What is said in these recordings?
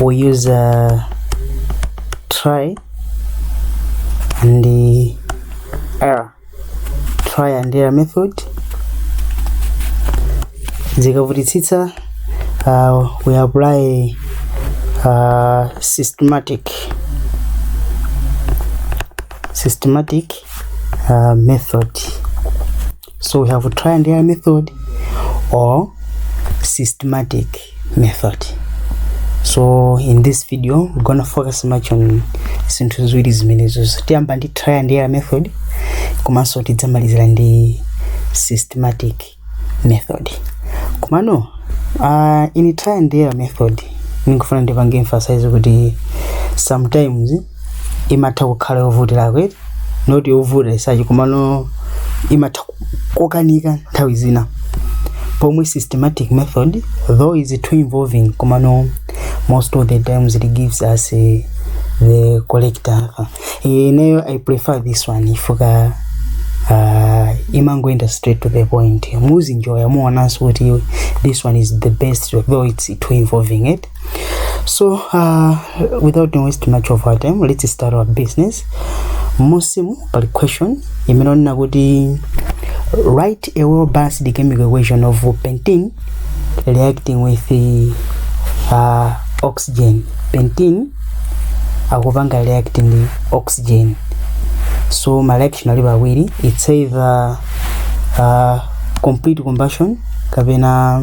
we use uh, try and error try and error method zikavutitsitsa uh, we apply uh, systematic systematic uh, method So we have trial and error method or systematic method. So in this video we're gonna focus much on zinthu ziwiri zimenezozo tiyamba ndi trial and error method komanso tidzamalizira ndi systematic method komano uh, in trial and error method ndikufuna ndipange emphasize kuti sometimes imatha kukhala yovutirako eti not yovuta as such komano imatha ku- kokanika nthawi zina pomwe systematic method though is too involving komano most of the times it gives us eh, the correct answer Eh, ineyo i prefer this one chifukwa uh, imangoenda straight to the point muzinjoya muonanso kuti this one is the best though it's too involving it so uh, without wasting much of our time let's start our business musimu pali question imene onena kuti write a well balanced chemical equation of pentene reacting with the, uh, oxygen pentene akupanga react ndi oxygen so ma reaction ali pawiri it's either uh, complete combustion kapena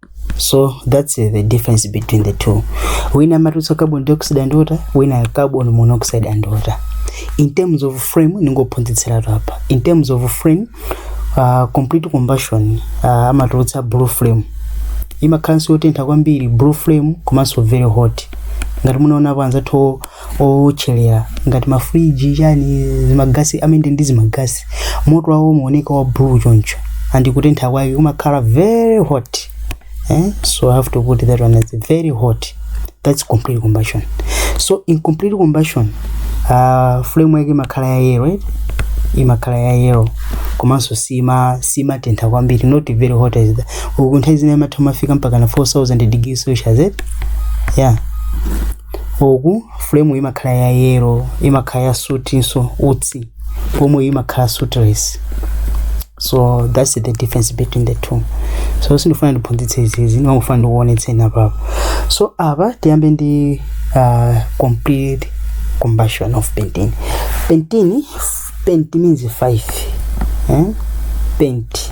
so that's uh, the difference between the two wina amatulutsa carbon dioxide and water wina carbon monoxide and water in terms of flame ndingophunzitsiratu apa in terms of flame uh, complete combustion uh, amatulutsa blue flame imakhalanso yotentha kwambiri blue flame komanso very hot ngati munaonapo anzathu owotchelera ngati mafriji chani zimagasi amene ndi zimagasi moto wawo umaoneka wa blue choncho and kutentha kwake kumakhala very hot eh? so i have to put that one as very hot that's complete combustion so incomplete combustion uh, flame yake imakhala ya yellow right? imakhala ya yellow komanso sima simatentha kwambiri not very hot as that uku nthawi zina imatha kumafika mpaka na 4000 degrees celsius eh? yeah uku flame imakhala ya yellow imakhala ya soot-nso utsi pomwe imakhala sootless so that's the difference between the two so sindifuna ndiphunzitse izizi ndimangofuna ndikuonetseni apapo so apa tiyambe ndi uh, complete combustion of pentane pentane pent means five eh? pent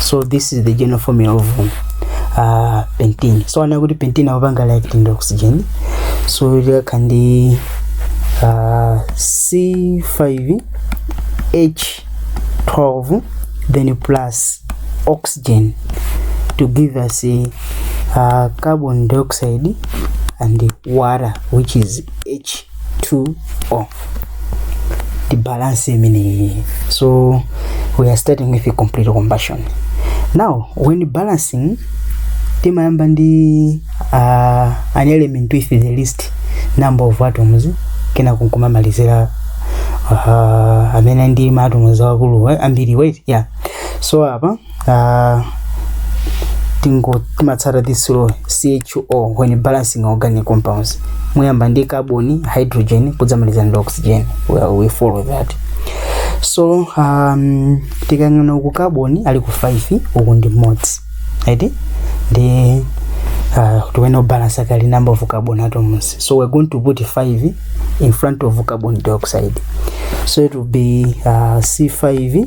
so this is the general formula of uh, pentene so ana kuti pentene akupanga light ndi oxygen so likakha ndi uh, c5 h12 then plus oxygen to give us a uh, carbon dioxide and water which is h 2 o ndibalance imeneyi so we are starting with a complete combustion now when balancing timayamba ndi uh, an element with the least number of atoms kenako nkumamalizira uh, amene ali ndi maatoms akulu eh, ambiri wait yeah so apa uh, tingo timatsata this law CHO when balancing organic compounds muyamba ndi carbon hydrogen kudzamaliza ndi oxygen we, we follow that so um, tikayang'ana uku carbon aliko 5 uku ndi mmodzi right ndi uh, tiyenera kubalance kaye number of carbon atoms so we're going to put 5 in front of carbon dioxide so it will be uh, c5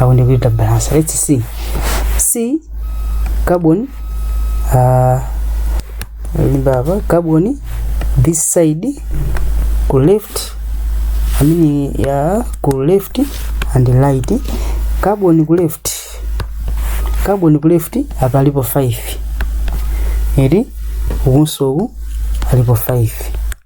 I want to read the balance. Let's see. C carbon uh, remember carbon this side ku left I mean yeah ku left and right carbon ku left carbon ku left apa alipo 5 eri ukunso uku alipo 5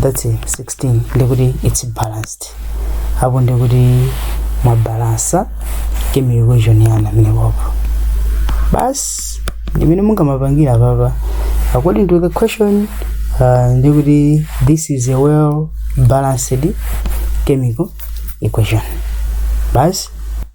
that's it, 16 ndikuti it's balanced apo ndikuti mwabalansa chemical equation yanga imeneyo apo basi ndimene mungamapangire apapa according to the question uh, ndikuti this is a well balanced chemical equation basi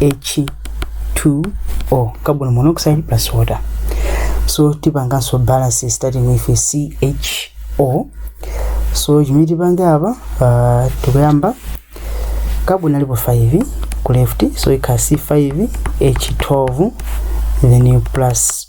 H2O carbon monoxide plus water so tipanganso balance starting with CHO so chimene tipange apa uh, tikuyamba carbon alipo 5 ku left so ikhala C5 H12 then plus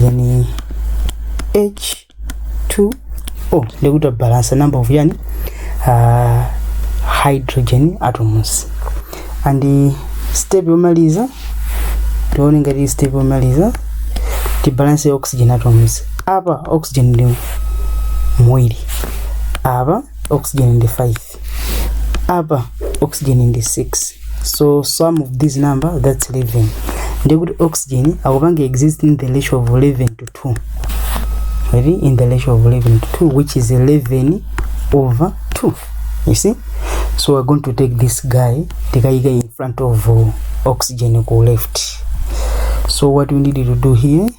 then h2 o ndiye kuti tabalansa number of yani uh, hydrogen atoms and uh, step yomaliza tione ngati step yomaliza tibalanse oxygen atoms apa oxygen ndi muwiri apa oxygen ndi 5 8 apa oxygen ndi 6 so sum of this number that's 11 ndiye kuti oxygen akupanga exist in the ratio of 11 to 2 maybe in the ratio of 11 to 2 which is 11 over 2 you see so we're going to take this guy tikayika in front of uh, oxygen ku left so what we need to do here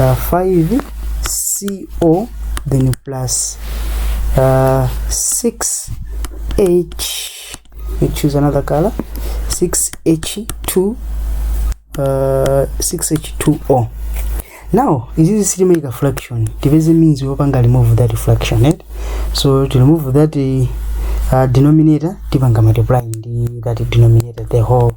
uh, 5 co then plus uh, 6 h we choose another color 6 h2 uh, 6 h2o now izizi sitimaika fraction tipeze means yopanga remove that fraction right? so to remove that uh, denominator tipanga multiply ndi that denominator the whole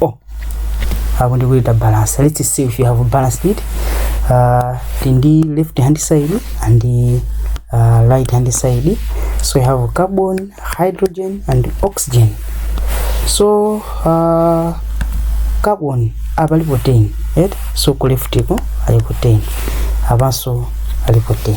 oh hapo ndi kuleta balance let's see if you have balanced it uh, ndi left hand side and uh, right hand side so you have carbon hydrogen and oxygen so uh, carbon apa alipo 10 right so ku left ko alipo 10 apanso alipo 10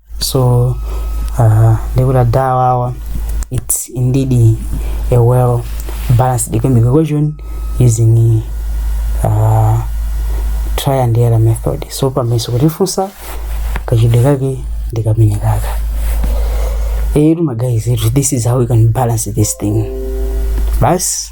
so uh, ndikuti awawa it's indeed a well balanced chemical equation using uh, trial and error method so pamayeso kutifunsa kachitidwe kake ndi kameneka eti magayizi eti this is how we can balance this thing basi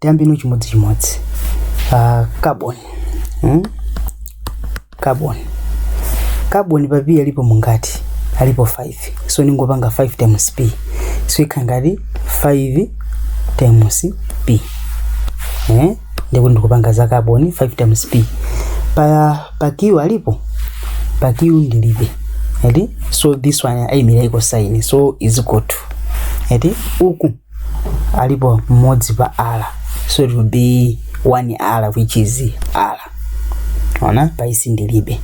tiyambe ndi chimodzichimodzi uh, carbon hmm? carbon carbon pa p alipo mungati alipo 5 so ndingopanga 5 times p so ikhala ngati 5 times p eh? ndikuti ndikupanga za carbon 5 times p pa, pa q alipo pa q ndilibe eti so this one ayimira equal sign so is equal to eti uku alipo mmodzi pa r so it will be 1 r which is r ona pa s ndilibe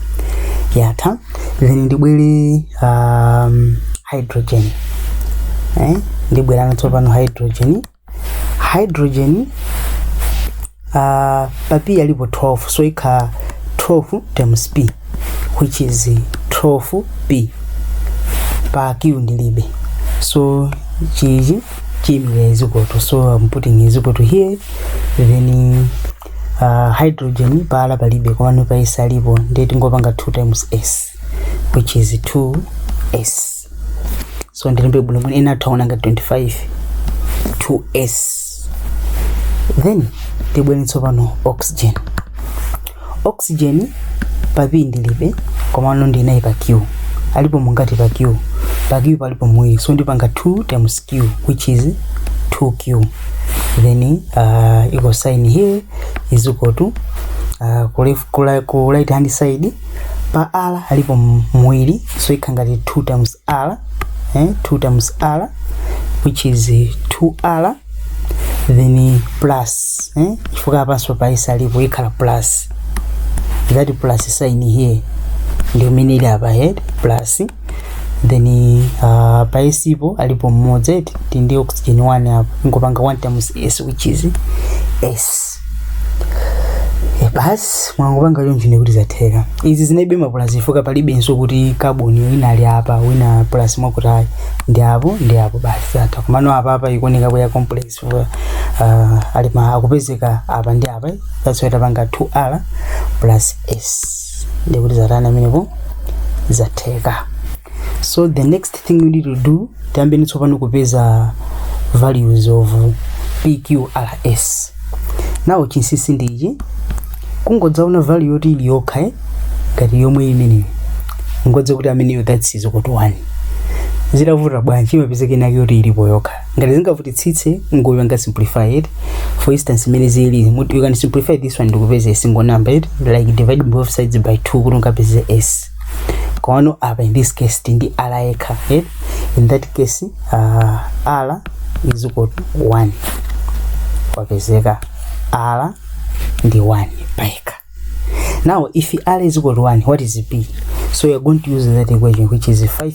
yatha then ndibwere um, hydrogen eh? ndibwera tsopano hydrogen hydrogen Uh, pa p alipo 12 so ikhala 12 times p which is 12 p pa q ndilibe so ichichi chiimira is equal to so i'm putting is equal to here then uh, hydrogen pa r palibe komano pa s alipo ndiye tingopanga 2 times s which is 2s so ndilembe bwinobwino ena atha ona ngati 25 2s then tibwere tsopano oxygen oxygen pa p ndilibe komano ndinaye pa q alipo angati pa q pa q palipo awiri so ndipanga 2 times q which is 2q then uh, equal sign here is equal to uh, ku left- ku la- ku right hand side pa r alipo m- awiri so ikhala ngati 2 times r eh? 2 times r which is 2r then plus eh? chifukwa apanso pa s alipo ikhala plus that plus sign here ndi imene ili apa here plus then uh, pa s po alipo mmodzi eti tindi oxygen 1 apo ndingopanga 1 times s which is s Eh, basi mwangopanga choncho nde kuti zatheka izi zinalibe mapulasi chifukwa palibenso kuti carbon wina ali apa wina pulasi mwakutayi ndi apo ndi apo basi zatha komano apa apa ikuoneka kukhala complex chifukwa uh, ali ma akupezeka apa ndi apa that's why tapanga 2r plus s nde kuti zatani amenepo zatheka so the next thing we need to do tiyambeni tsopano kupeza values of pqrs now chinsinsi ndi ichi kungodzaona value yoti ili yokha eh, ngati 1 imeneyo kungodziwa kuti ameneyo that's is equal to 1 zitavute bwanji imapezeka inake yoti ilipo yokha ngati zingavutitsitse ngopanga simplify it for instance imene zili you can simplify this one ndikupeza a single number like divide both sides by 2 kuti ungapeze s komano apa in this case ti ndi r yekha eh? in that case uh, r is equal to 1 kwapezeka r ndi 1 payekha now if r is equal to 1 what is p so you're going to use that equation which is 5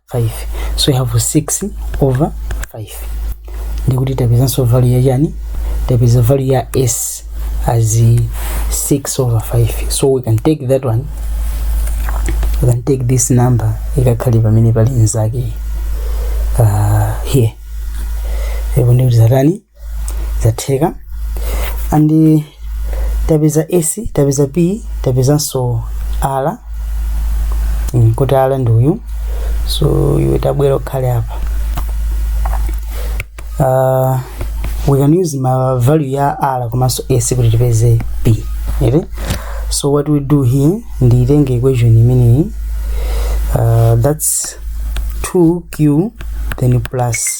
5 so we have 6 over 5 nde kuti tapezanso value ya chani tapeza value ya s as 6 over 5 so we can take that one we can take this number ikakhale pamene pali nzake uh, here ndipo nde kuti zatani zatheka and tapeza s tapeza p tapezanso r mm, kuti r ndi uyu so iwe tabwera ukhale apa uh, we can use ma value ya r komanso s kuti tipeze p eti so what we do here ndiitenge equation imeneyi uh, that's 2q then plus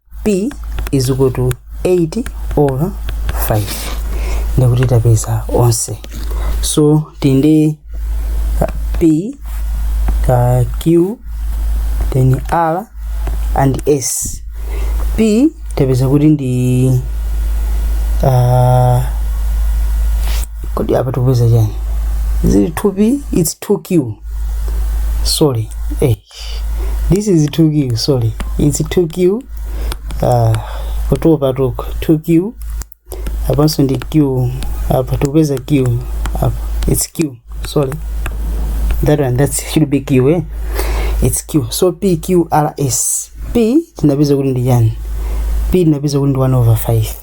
p is equal to 8 over 5 nde kuti tapeza onse so tindi p ka q then r and s p tapeza kuti ndi uh, kodi apa tikupeza chani is it 2p it's 2q sorry eh. this is 2q sorry it's 2q uh, kutopatuko 2q apanso ndi q apo tikupeza q apa it's q sorry that one that should be q eh? it's q so pqrs p tinapeza kuti ndi chani p tinapeza kuti ndi 1 over 5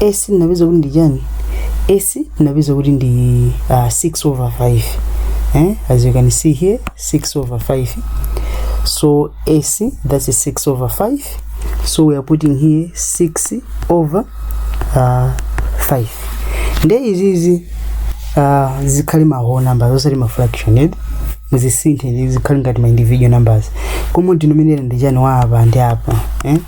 s tinapeza kuti ndi chani s tinapeza kuti ndi uh, 6 over 5 eh? as you can see here 6 over 5 so s that's 6 over 5 so we are putting here 6 over uh, 5 nde izizi uh, zikhale ma whole numbers osati ma fraction eti muzisinthe zikhale ngati ma individual numbers common denominator ndi chani wa apa ndi apa eh?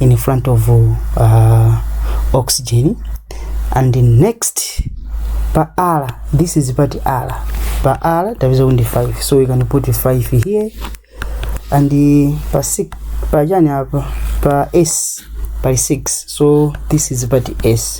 in front of uh, oxygen and next pa r this is pati r pa r tapeza kuti ndi 5 so we can put 5 here and uh, pa 6 pa chani apa pa s pali 6 so this is pati s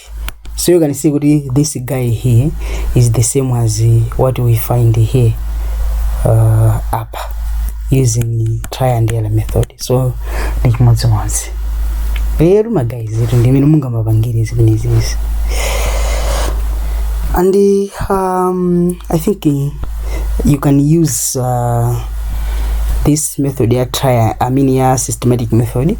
So you can see kuti this guy here is the same as uh, what we find here uh, apa using try and error method. So ndi chimodzimodzi. Lero ma guys izo ndi mmene mungamapangire zimenezi. And uh, um, I think uh, you can use uh, this method ya try I mean ya systematic method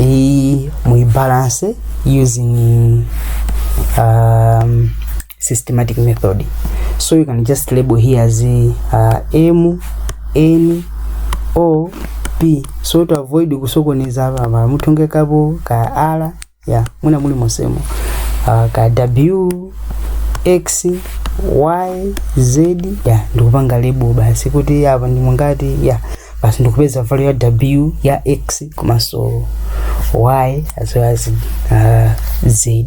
iyi muibalance using um, systematic method so you can just label here as uh, m n o p so to avoid kusokoneza apa mara mutongekapo ka r ya muna muli monsemo uh, ka w x y z ya ndikupanga label basi kuti apa ndi mungati ya basi ndikupeza value ya w ya x komanso y as well as uh, z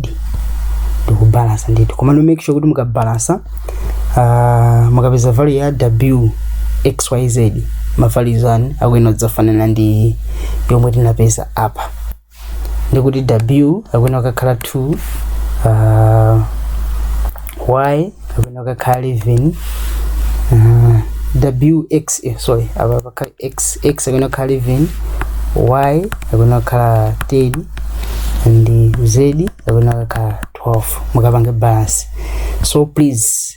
ndikubalansa ndithu komano make sure kuti mukabalansa uh, mukapeza value ya w xyz ma values anu akuyenera kudzafanana ndi yomwe tinapeza apa ndikuti w akuyenera kukakhala 2 uh, y akuyenera kukakhala 11 uh, wx eh, sorry apa pakhala x x akuyenera kukhala 11 y akuyenera kukhala 10 and z akuyenera kukakhala 12 mukapange balance so please